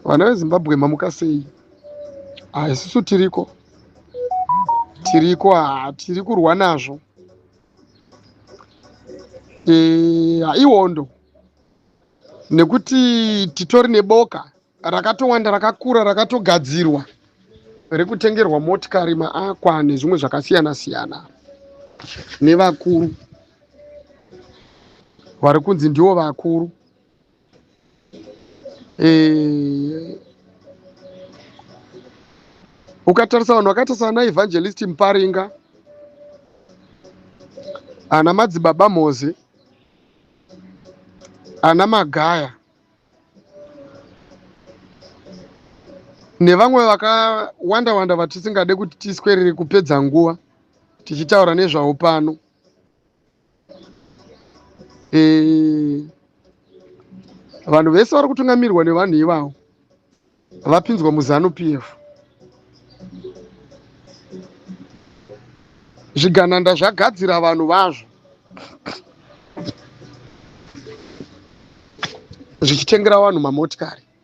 Vana veZimbabwe mamuka sei? Ah, isusu tiriko tiriko ah, tiri kurwa nazvo eh, ah, ihondo nekuti titori neboka rakatowanda rakakura rakatogadzirwa rekutengerwa motikari maakwa nezvimwe zvakasiyana siyana nevakuru vari kunzi ndiwo vakuru eh, ukatarisa vanhu vakaita sana evangelist muparinga ana madzibaba mozi ana magaya nevamwe vakawanda wanda vatisingade kuti tiswerere kupedza nguva tichitaura nezvavo pano eh, vanhu vese vari kutungamirwa nevanhu ivavo vapinzwa muzanu p f zvigananda zvagadzira vanhu vazvo zvichitengera vanhu mamotikari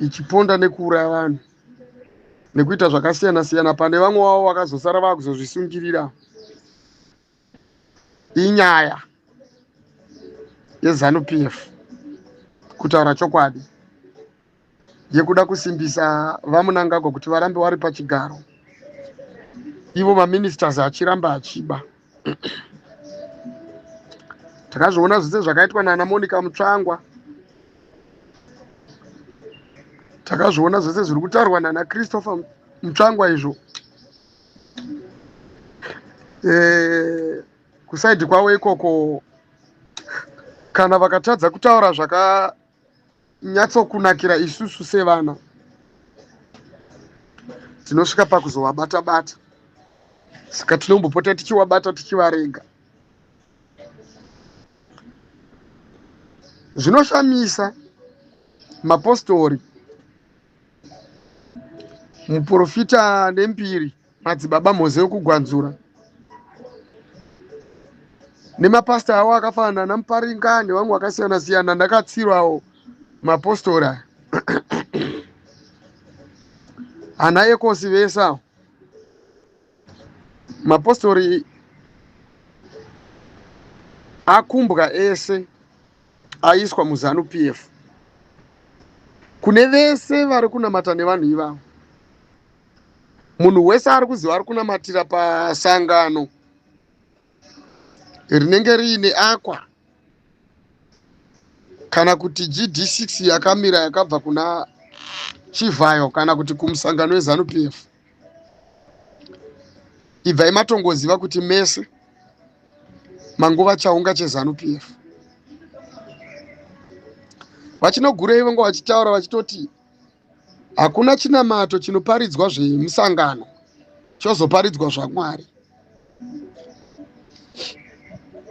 ichiponda nekuuraya vanhu nekuita zvakasiyana siyana pane vamwe wavo vakazosara vakuzozvisungirira inyaya yezanu p f kutaura chokwadi yekuda kusimbisa vamunangagwa kuti varambe wari pachigaro ivo maministers achiramba achiba takazviona zvese zvakaitwa nana monica mutsvangwa takazviona zvese zviri kutaurwa nana christopher mutsvangwa izvo eh, kusaidi kwavo ikoko kana vakatadza kutaura zvaka nyatsokunakira isusu sevana tinosvika pakuzovabata bata saka tinombopota tichivabata tichivarega zvinoshamisa mapostori muprofita nembiri madzibaba mhoze yokugwanzura nemapasita awo akafanana namuparinga nevamwe vakasiyana siyana ndakatsirwawo mapostori aya ana ekosi vese awo mapostori akumbwa ese aiswa muzanu p f kune vese vari kunamata nevanhu ivavo munhu wese ari kuziva ari kunamatira pasangano rinenge riine akwa kana kuti gd6 yakamira yakabva kuna chivhayo kana kuti kumusangano wezanup f ibvai matongoziva kuti mese manguva chaunga chezanup f vachinogurei vanga vachitaura vachitoti hakuna chinamato chinoparidzwa zvemusangano chozoparidzwa zvamwari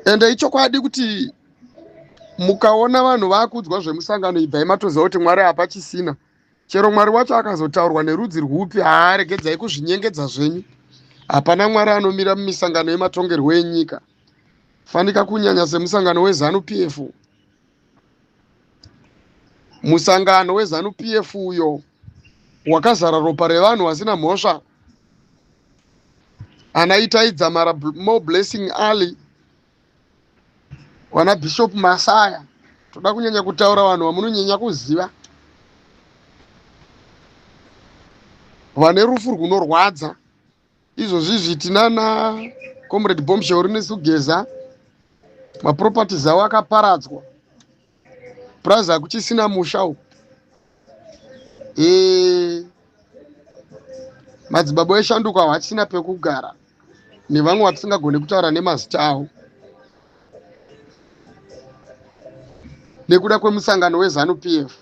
ende ichokwadi kuti mukaona vanhu vakuudzwa zvemusangano ibvai matoziva kuti mwari hapa chisina chero mwari wacho akazotaurwa nerudzi rwupi haaregedzai kuzvinyengedza zvenyu hapana mwari anomira mumisangano yematongerwo enyika fanika kunyanya semusangano wezanu p f musangano wezanu pf uyo wakazara ropa revanhu vasina mhosva ana itai dzamara more blessing ali wana bishop masaya toda kunyanya kutaura vanhu vamunonyanya kuziva vane rufu rwunorwadza izvozvi zvitina na comrade bombshell rinesi kugeza maproperties avo akaparadzwa purazi hakuchisina musha uku e, madzibaba eshanduko avo hachisina pekugara nevamwe vatisingagone kutaura nemazita avo nekuda kwemusangano wezanu p f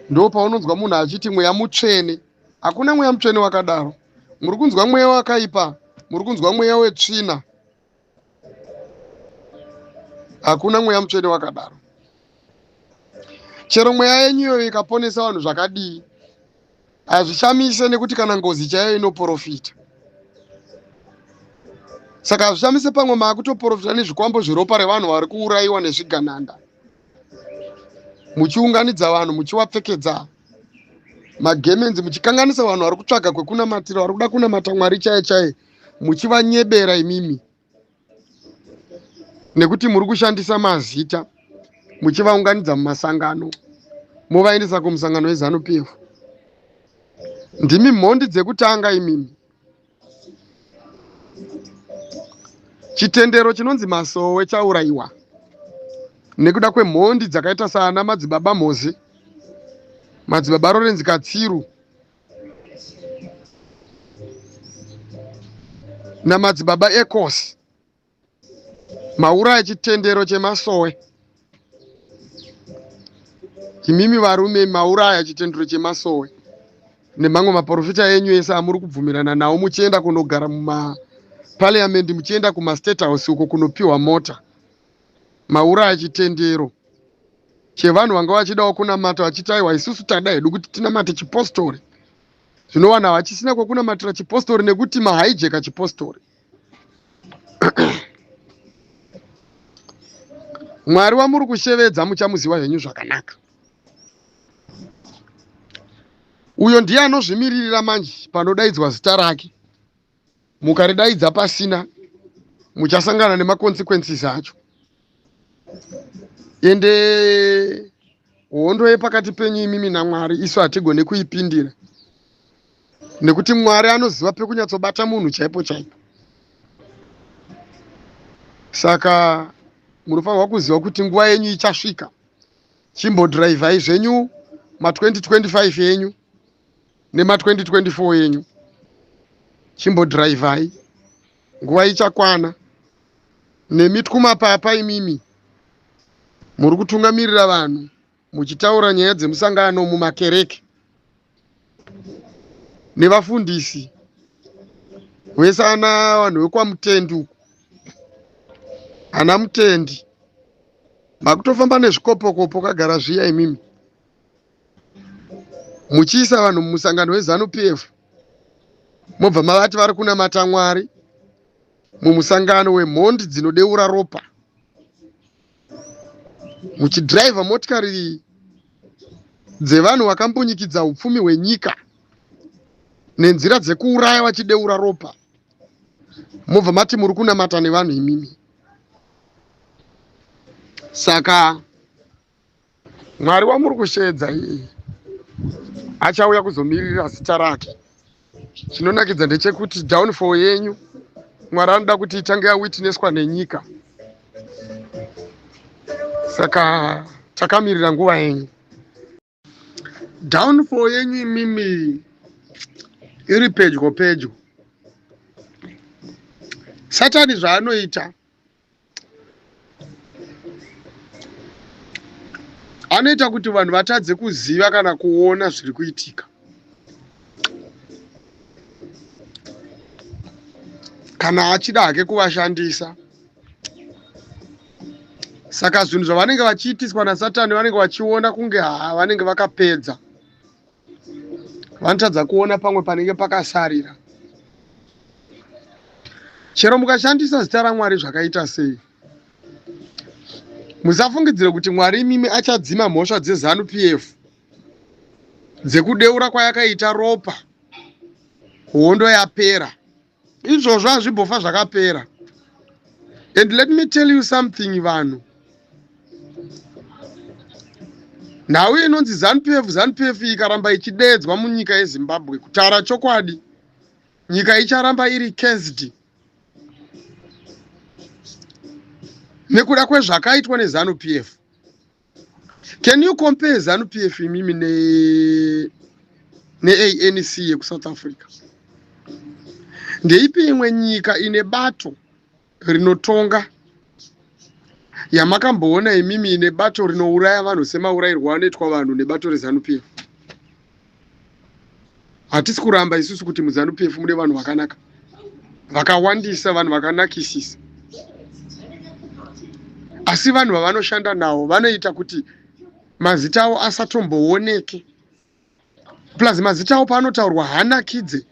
ndo paunonzwa munhu achiti mweya mutsvene hakuna mweya mutsvene wakadaro muri kunzwa mweya wakaipa muri kunzwa mweya wetsvina hakuna mweya mutsvene wakadaro chero mweya yenyu iyoyo ikaponesa vanhu zvakadii hazvishamise nekuti kana ngozi chaiyo inoprofita saka hazvishamise pamwe maakutoprofita nezvikwambo zveropa revanhu vari kuurayiwa nezvigananda muchiunganidza vanhu muchiwapfekedza magemenzi muchikanganisa vanhu vari kutsvaga kwekunamatira vari kuda kunamata mwari chaye chaye muchivanyebera imimi nekuti muri kushandisa mazita muchivaunganidza mumasangano movaendesa kumusangano wezanu pf ndimi mhondi dzekutanga imimi chitendero chinonzi masowe chaurayiwa nekuda kwemhondi dzakaita saana madzibaba mhozi madzibaba rorenzi katsiru namadzibaba ecosi Maura echitendero chemasowe. Imimi varume mauraya chitendero chemasowe nemamwe maporofita enyu ese amuri kubvumirana nawo muchienda kunogara mumaparliament muchienda kumastate house uko kunopiwa mota mauraya chitendero chevanhu vanga vachidawo kunamata vachiti aiwa isusu tada hedu kuti tinamate chipostori zvinowana vachisina kwekunamatira chipostori nekuti mahaijeka chipostori mwari wamuri kushevedza muchamuziva henyu zvakanaka uyo ndiye anozvimiririra manje panodaidzwa zita rake mukaridaidza pasina muchasangana nemaconsequences acho ende hondo yepakati penyu imimi namwari isu hatigone kuipindira nekuti mwari anoziva pekunyatsobata munhu chaipo chaipo saka munofanirwa kuziva kuti nguva yenyu ichasvika chimbodhiraivhai zvenyu ma2025 yenyu nema2024 yenyu chimbodhiraivhai nguva ichakwana nemi twumapapa imimi muri kutungamirira vanhu muchitaura nyaya dzemusangano mumakereke nevafundisi vese ana vanhu vekwamutendi uku ana mutendi makutofamba nezvikopokopo kagara zviya imimi muchiisa vanhu mumusangano wezanu p f mobva mavati vari kunamata mwari mumusangano wemhondi dzinodeura ropa muchidhiraivha motikari dzevanhu vakambunyikidza upfumi hwenyika nenzira dzekuuraya vachideura ropa mobva mati muri kunamata nevanhu imimi saka mwari wamuri kusheedza iye achauya kuzomirira zita rake chinonakidza ndechekuti downfall yenyu mwari anoda kuti itange yawitnesswa nenyika saka takamirira nguva yenyu downfall yenyu imimi iri pedyo pedyo satani zvaanoita anoita kuti vanhu vatadze kuziva kana kuona zviri kuitika kana achida hake kuvashandisa saka zvinhu zvavanenge vachiitiswa nasatani vanenge vachiona kunge haa vanenge vakapedza vanotadza kuona pamwe panenge pakasarira chero mukashandisa zita ramwari zvakaita sei musafungidzire kuti mwari imimi achadzima mhosva dzezanu p f dzekudeura kwayakaita ropa hondo yapera izvozvo hazvimbofa zvakapera and let me tell you something vanhu nhau inonzi zanupf zanupf ikaramba ichideedzwa munyika yezimbabwe kutaura chokwadi nyika icharamba iri cased nekuda kwezvakaitwa nezanupf can you compare zanu p f imimi neanc yekusouth africa ndeipi imwe nyika ine bato rinotonga yamakamboona imimi ine bato rinouraya vanhu semaurayirwo anoitwa vanhu nebato rezanup hatisi kuramba isusu kuti muzanu p f mune vanhu vakanaka vakawandisa vanhu vakanakisisa asi vanhu vavanoshanda nawo vanoita kuti mazita avo asatombooneke plus mazita avo paanotaurwa hanakidze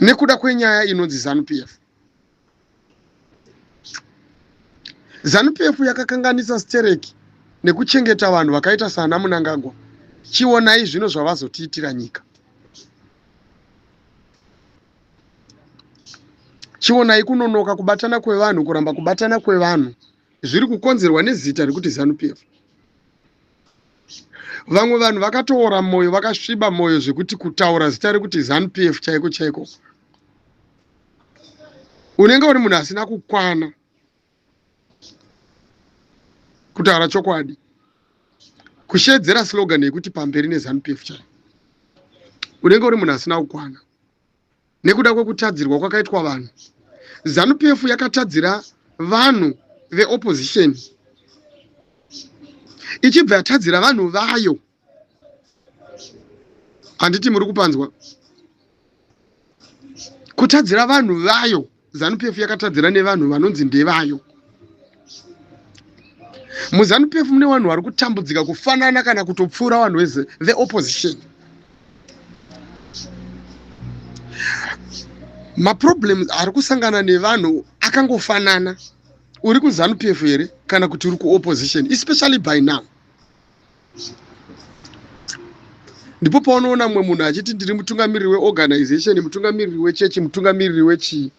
nekuda kwenyaya inonzi zanu p f zanupf yakakanganisa stereki nekuchengeta vanhu vakaita saana munangagwa chionai zvino zvavazotiitira nyika chionai kunonoka kubatana kwevanhu kuramba kubatana kwevanhu zviri kukonzerwa nezita rekuti zanupf vamwe vanhu vakatoora mwoyo vakasviba mwoyo zvekuti kutaura zita rekuti zanupf chaiko chaiko unenge uri munhu asina kukwana kutaura chokwadi kushedzera slogan yekuti pamberi nezanup f chai unenge uri munhu asina kukwana nekuda kwekutadzirwa kwakaitwa vanhu zanup f yakatadzira vanhu veopposition ichibva yatadzira vanhu vayo handiti muri kupanzwa kutadzira vanhu vayo zanu pf yakatadzira nevanhu vanonzi ndevayo muzanu pf mune vanhu vari kutambudzika kufanana kana kutopfuura vanhu vese the opposition maproblems ari kusangana nevanhu akangofanana uri kuzanu pf here kana kuti uri kuopposition especially by now ndipo paunoona mumwe munhu achiti ndiri mutungamiriri weorganization mutungamiriri wechechi mutungamiriri wechii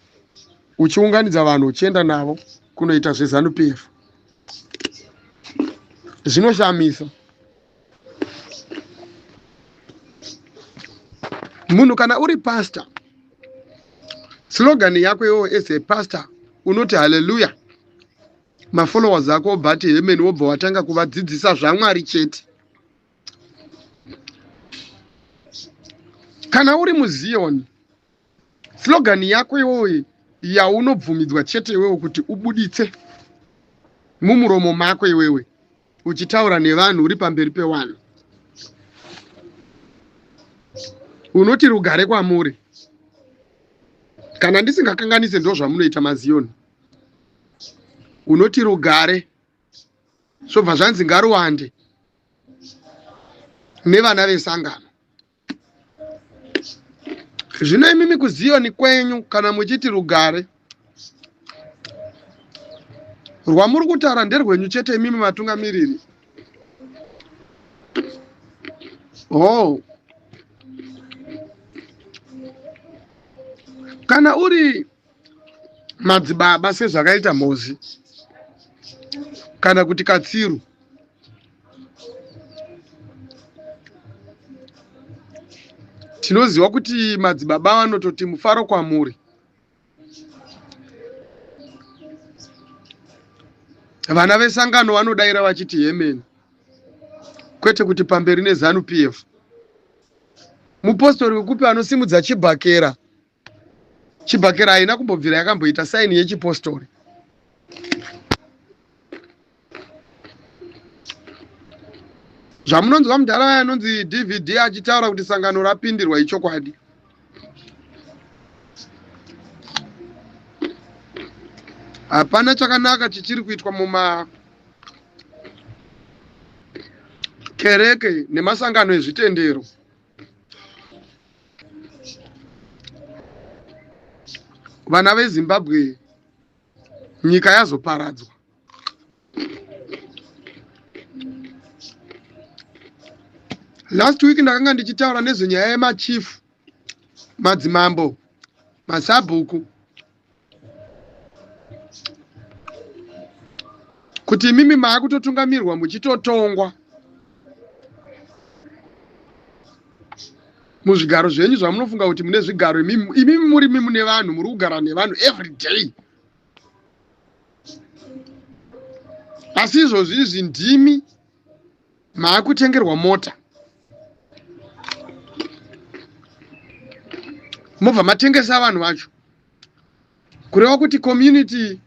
uchiunganidza vanhu uchienda navo kunoita zvezanup f zvinoshamisa munhu kana uri pastor slogan yako iwowo as a pastor unoti haleluya mafollowers ako obva ati hemen wobva watanga kuvadzidzisa zvamwari chete kana uri muziyoni slogan yako iwoye yaunobvumidzwa chete iwewe kuti ubuditse mumuromo mako iwewe uchitaura nevanhu uri pamberi pewanhu unoti rugare kwamuri kana ndisingakanganise ndozvamunoita maziyoni unoti rugare zvobva zvanzi ngaruwande nevana vesangano zvino imimi kuziyoni kwenyu kana muchiti rugare rwamuri kutaura nderwenyu chete imimi vatungamiriri hoo oh. kana uri madzibaba sezvakaita mhozi kana kuti katsiru tinoziva kuti madzibaba vanototi mufaro kwamuri vana vesangano vanodaira vachiti hemeni kwete kuti pamberi nezanu p f mupostori wekupi anosimudza chibhakera chibhakera haina kumbobvira yakamboita saini yechipostori zvamunonzwa mudhara waya anonzi dvd achitaura kuti sangano rapindirwa ichokwadi hapana chakanaka chichiri kuitwa muma kereke nemasangano ezvitendero vana vezimbabwe nyika yazoparadzwa last week ndakanga ndichitaura nezvenyaya yemachief madzimambo masabhuku kuti imimi maakutotungamirwa muchitotongwa muzvigaro zvenyu zvamunofunga kuti mune zvigaro imimi muri mune vanhu muri kugara nevanhu every day asi izvozvi izvi ndimi maakutengerwa mota mobva matengesa vanhu vacho kureva kuti community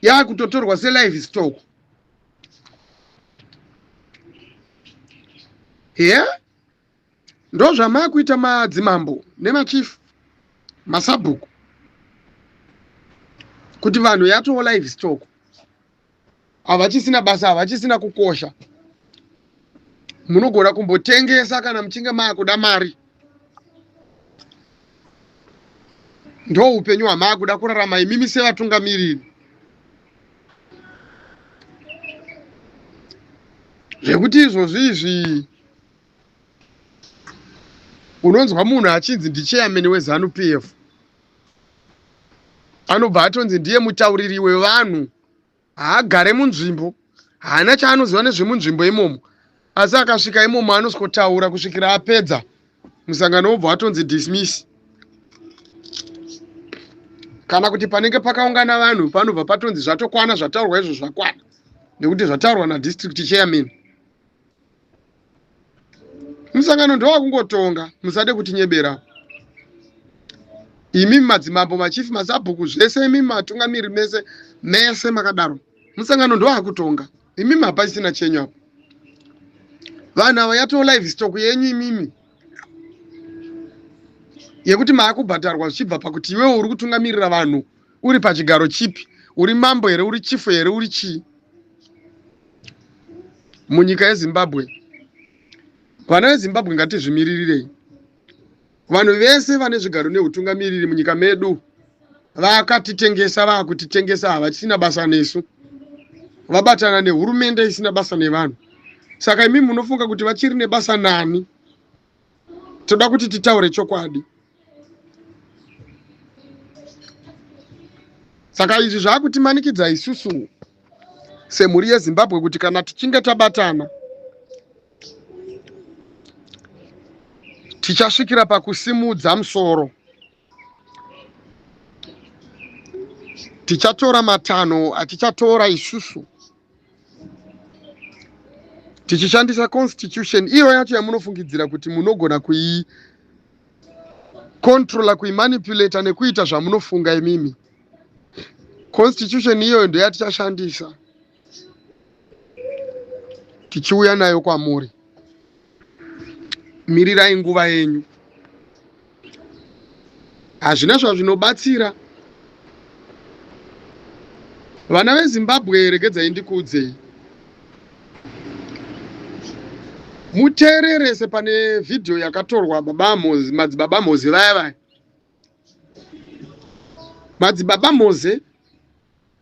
yaakutotorwa selive stock he yeah? ndozvamaakuita madzimambo nemachief masabhuku kuti vanhu yatowo live stock havachisina basa havachisina kukosha munogona kumbotengesa kana muchinge maakuda mari ndo upenyu hwamaakuda kurarama imimi sevatungamiriri zvekuti izvozvi izvi unonzwa munhu achinzi ndicheyameni wezanu p f anobva atonzi ndiye mutauriri wevanhu haagare munzvimbo haana chaanoziva nezvemunzvimbo imomo asi akasvika imomo anosikotaura kusvikira apedza musangano wobva watonzi dismiss kana kuti panenge pakaungana vanhu panobva patonzi zvatokwana zvataurwa izvo zvakwana nekuti zvataurwa nadistrict chairman musangano ndowakungotonga musade kutinyebera imi madzimambo machief masabhuku zvese imi matungamiri mese mese makadaro musangano ndowakutonga imi mapachisina chenyu apo vanhu ava yatoo live stock yenyu imimi yekuti maakubhadharwa zvichibva pakuti iwewe uri kutungamirira vanhu uri pachigaro chipi uri mambo here uri chifu here uri chii munyika yezimbabwe vana vezimbabwe ngatizvimiririrei vanhu vese vane zvigaro neutungamiriri munyika medu vakatitengesa vakutitengesa havachisina basa nesu vabatana nehurumende isina basa nevanhu saka imi munofunga kuti vachiri nebasa nani toda kuti titaure chokwadi saka izvi zvaakutimanikidza isusu semhuri yezimbabwe kuti kana tichinge tabatana tichasvikira pakusimudza musoro tichatora matanho atichatora isusu tichishandisa constitution iyo yacho yamunofungidzira kuti munogona kuyi controla kuimanipulata nekuita zvamunofunga imimi constitution iyoyo ndoyatichashandisa tichiuya nayo kwamuri mirirai nguva yenyu hazvina zvazvinobatsira vana vezimbabwe regedzai ndikuudzei muteererese pane vhidhiyo yakatorwa baba moze madzibaba moze vaya vaya madzibaba moze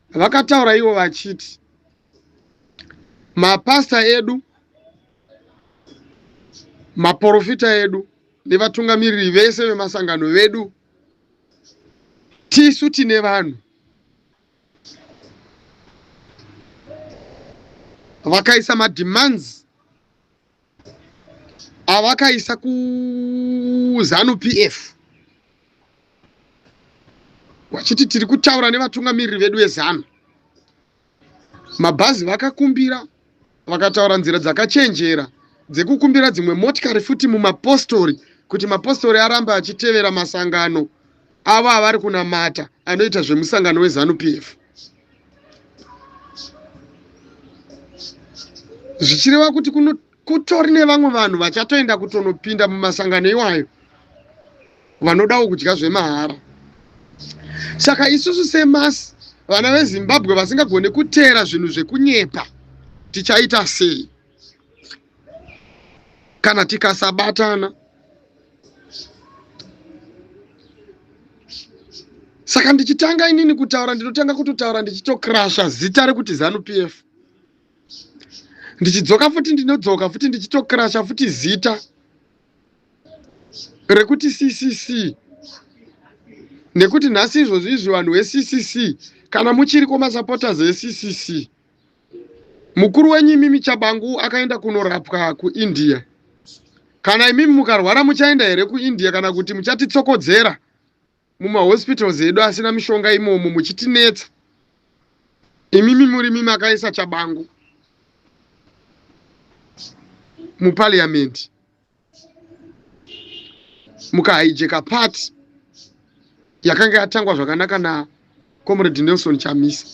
vakataura ivo vachiti mapasta edu maporofita edu nevatungamiriri vese vemasangano vedu tisu tine vanhu vakaisa mademands avakaisa kuzanu p f vachiti tiri kutaura nevatungamiriri vedu vezanu Mabhazi vakakumbira vakataura nzira dzakachenjera dzekukumbira dzimwe motikari futi mumapostori kuti mapostori arambe achitevera masangano avo avari kunamata anoita zvemusangano wezanupf zvichireva kuti kutori nevamwe vanhu vachatoenda kutonopinda mumasangano iwayo vanodawo kudya zvemahara saka isusu semasi vana vezimbabwe vasingagone kuteera zvinhu zvekunyepa tichaita sei kana tikasabatana saka ndichitanga inini kutaura ndinotanga kutotaura ndichitokrasha zita rekuti zanu p f ndichidzoka futi ndinodzoka futi ndichitokrasha futi zita rekuti ccc nekuti nhasi izvozvi izvi vanhu veccc kana muchiriko masupporters eccc mukuru wenyu imimi chabangu akaenda kunorapwa kuindia kana imimi mukarwara muchaenda here kuindia kana kuti muchatitsokodzera mumahospitals edu asina mishonga imomo muchitinetsa imimi murimi makaisa chabangu muparliament mukahaijeka part yakanga yatangwa zvakanaka na comrade nelson chamisa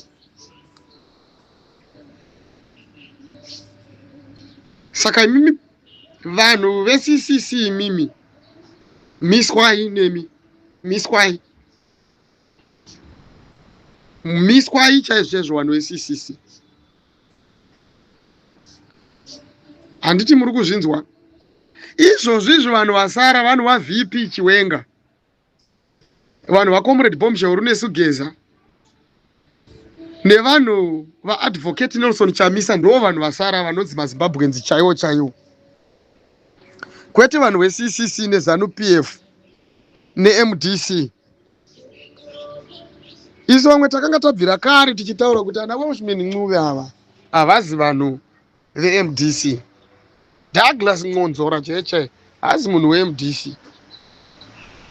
saka imimi vanhu veccc imimi miswai nemi miswai miswai chaizvo chaizvo vanhu veccc handiti muri kuzvinzwa izvozvo izvo vanhu vasara vanhu vavp chiwenga vanhu vacomrade bombshell runesu geza nevanhu vaadvocate nelson chamisa ndoo vanhu vasara vanonzi mazimbabwenzi chaiwo chaiwo kwete vanhu veccc nezanu p f nemdc isu vamwe takanga tabvira kare tichitaura kuti ana welshmen ncuve ava havazi vanhu vemdc douglas nconzora chaiye chaiye haazi munhu wemdc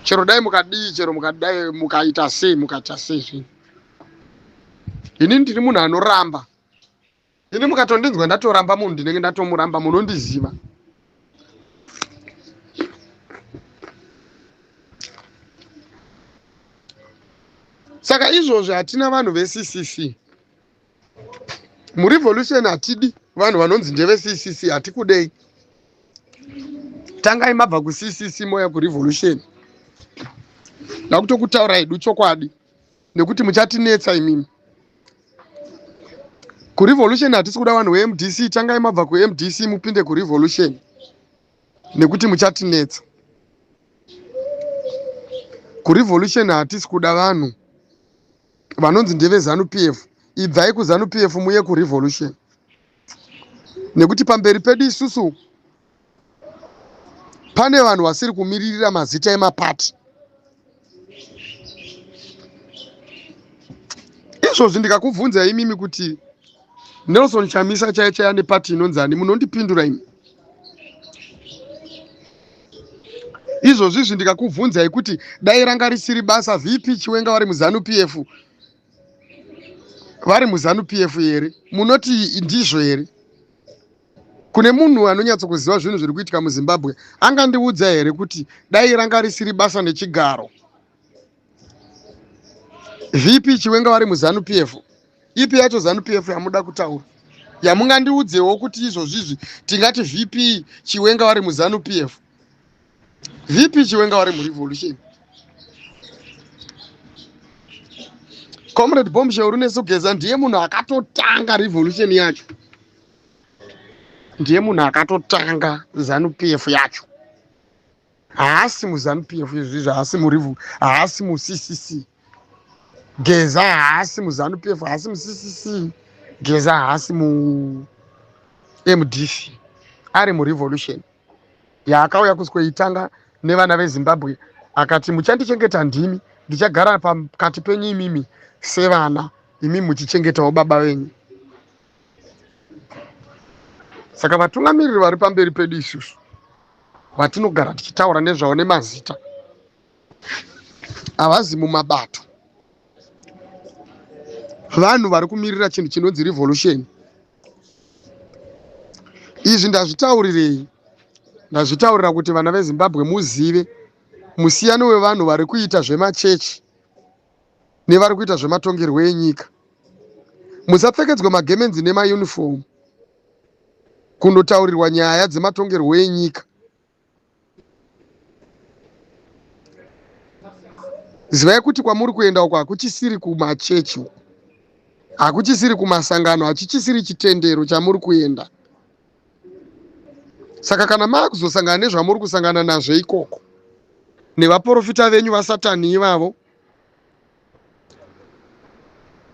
chero dai mukadii chero mukadai mukaita sei mukaita sei zvinhu ini ndiri munhu anoramba ini mukatondinzwa ndatoramba munhu ndinenge ndatomuramba munondiziva saka izvozvi hatina vanhu veccc murevolution hatidi vanhu vanonzi ndeve ccc hatikudei tangai mabva kuccc moya kurevolution ndakutokutaura hedu chokwadi nekuti muchatinetsa imimi kurevolution hatisi kuda vanhu vemdc tangai mabva kumdc mupinde kurevolution nekuti muchatinetsa kurevolution hatisi kuda vanhu vanonzi ndeve zanu pf ibvai kuzanu pf muye kurevolution nekuti pamberi pedu isusu pane vanhu vasiri kumiririra mazita emapati izvozvi ndikakubvunza imimi kuti Nelson Chamisa chaiye chaiye ane pati inonzani munondipindura imi izvozvizvi ndikakubvunzai kuti dai ranga risiri basa vp chiwenga vari muzanu pf vari muzanu pf here munoti ndizvo here kune munhu anonyatsokuziva zvinhu zviri kuitika muzimbabwe angandiudza here kuti dai ranga risiri basa nechigaro VP Chiwenga vari muZanu PF. Ipi yacho Zanu PF yamuda kutaura. Yamungandiudzewo kuti izvozvi izvi tingati VP Chiwenga vari muZanu PF. VP Chiwenga vari muRevolution. Comrade Bombshell Runesugeza ndiye munhu akatotanga revolution yacho. Ndiye munhu akatotanga Zanu PF yacho. haasi muzanu pf izvi zvaasi murivu haasi muccc geza haasi muzanu pf haasi muccc geza haasi mu mdc ari murevolution yaakauya kuskoitanga nevana vezimbabwe akati muchandichengeta ndimi ndichagara pakati penyu imimi sevana imi muchichengetawo baba venyu saka vatungamiriri vari pamberi pedu isusu vatinogara tichitaura nezvavo nemazita havazi mumabato vanhu vari kumirira chinhu chinonzi revolution izvi ndazvitaurirei ndazvitaurira kuti vana vezimbabwe muzive musiyano wevanhu vari kuita zvemachechi nevari kuita zvematongerwo enyika musapfekedzwa magemenzi nemayunifomu kundotaurirwa nyaya dzematongerwo enyika zivai kuti kwamuri kuenda uko hakuchisiri kumachechi uko hakuchisiri kumasangano hachichisiri chitendero chamuri kuenda saka kana maakuzosangana nezvamuri kusangana nazvo ikoko nevaprofita venyu vasatani ivavo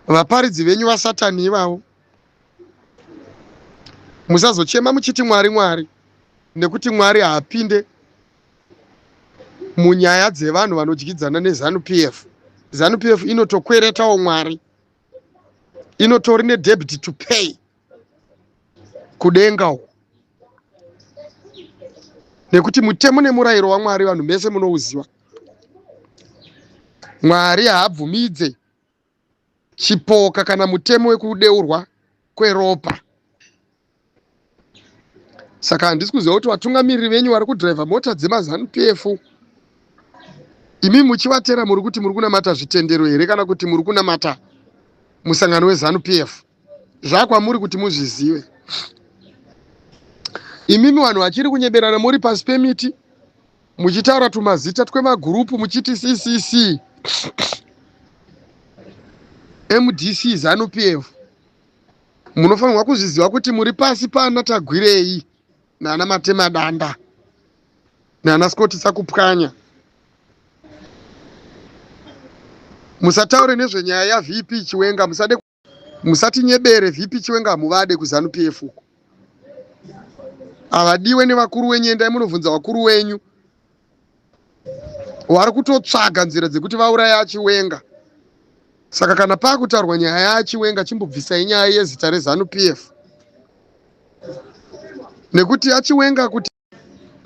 vaparidzi venyu vasatani ivavo musazochema muchiti mwari mwari nekuti mwari haapinde munyaya dzevanhu vanodyidzana nezanup f zanup f inotokweretawo mwari inotori nedebit to pay kudenga uko nekuti mutemo nemurayiro wamwari vanhu mese munouziva mwari haabvumidze chipoka kana mutemo wekudeurwa kweropa saka handisi kuziva kuti vatungamiriri venyu vari kudhiraivha mota dzemazanup f imi muchivatera muri kuti muri kunamata zvitendero here kana kuti muri kunamata musangano wezanup f zvakwamuri kuti muzvizive imimi vanhu vachiri kunyeberana muri pasi pemiti muchitaura tumazita twemagurupu muchiti ccc mdc zanu p f munofanirwa kuzviziva kuti muri pasi pana tagwirei nana matemadanda nana skotisa kupwanya musataure nezvenyaya yavp chiwenga musade musatinyebere vp chiwenga hamuvade kuzanu pf uko havadiwe nevakuru wenyu endai munobvunza vakuru wenyu wari kutotsvaga nzira dzekuti vauraya achiwenga saka kana pakutaurwa nyaya yaachiwenga chimbobvisai nyaya yezita rezanu pf nekuti achiwenga kuti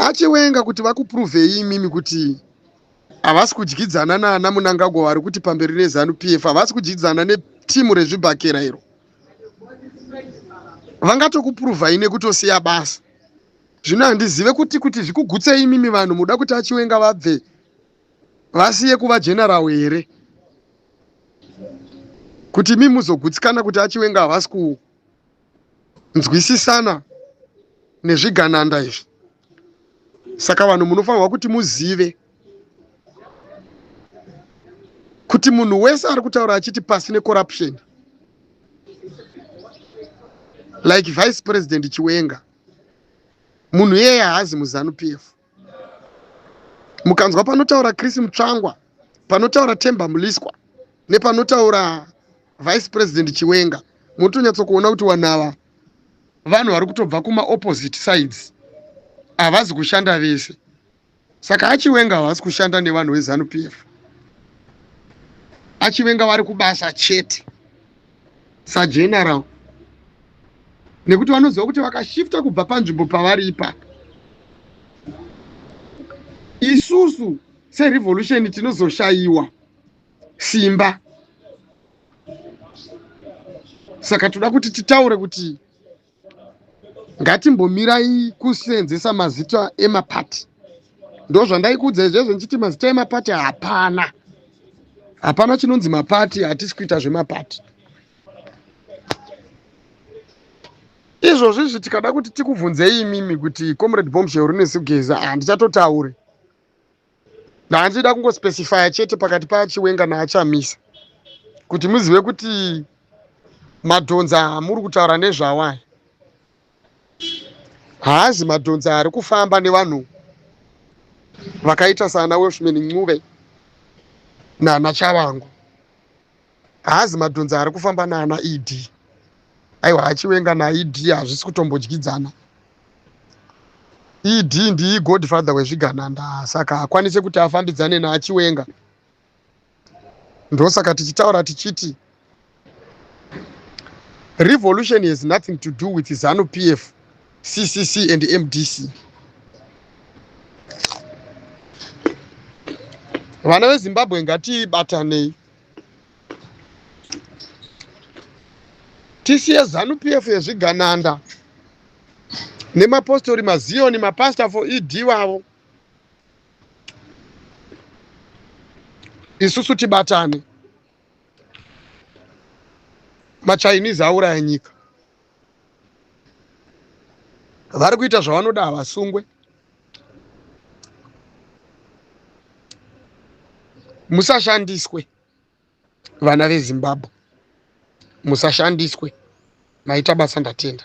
achiwenga kuti vakupruvhei imimi kuti havasi kudyidzana naana munangagwa vari kuti pamberi nezanu p f havasi kudyidzana netimu rezvibhakera iro vangatokupruvhai nekutosiya basa zvino handizive kuti kuti zvikugutsei imimi vanhu muda kuti achiwenga vabve vasiye kuva general here kuti imimi muzogutsikana kuti achiwenga havasi nzwisisana nezvigananda izvi saka vanhu munofanirwa kuti muzive kuti munhu wese ari kutaura achiti pasi necorruption like vice president chiwenga munhu iyeye haazi muzanu p f mukanzwa panotaura chris mutsvangwa panotaura temba muliswa nepanotaura vice president chiwenga munotonyatsokuona kuti vanhu ava vanhu vari kutobva kumaopposite sides havazi kushanda vese saka achiwenga havasi kushanda nevanhu vezanu p f achiwenga vari kubasa chete sageneral nekuti vanoziva kuti vakashifta kubva panzvimbo pavari ipapo isusu serevolution tinozoshayiwa simba saka toda kuti titaure kuti ngatimbomirai kuseenzesa mazita emapati ndozvandaikuudza izvezvo ndichiti mazita emapati hapana hapana chinonzi mapati hatisi kuita zvemapati izvozvizvi tikada kuti tikubvunzei imimi kuti comrade bombshell rine sigeza handichatotaurai ah, hanzi ida kungospecifya chete pakati paachiwenga naachamisa kuti muzive kuti madhonza amuri kutaura nezvawo aya haazi madhonza ari kufamba nevanhu vakaita sana welshman ncube nana chavangu haazi madhonza ari kufamba naana ed aiwa hachiwenga naed hazvisi kutombodyidzana ed ndii godfather wezvigananda saka hakwanise kuti afambidzane naachiwenga ndosaka tichitaura tichiti revolution has nothing to do with zanu p f c c c and m d c vana vezimbabwe ngatibatanei tisiye zanu pf yezvigananda nemapostori maziyoni mapastor for ed wavo isusu tibatane machinese auraya nyika vari kuita zvavanoda havasungwe musashandiswe vana vezimbabwe musashandiswe maita basa ndatenda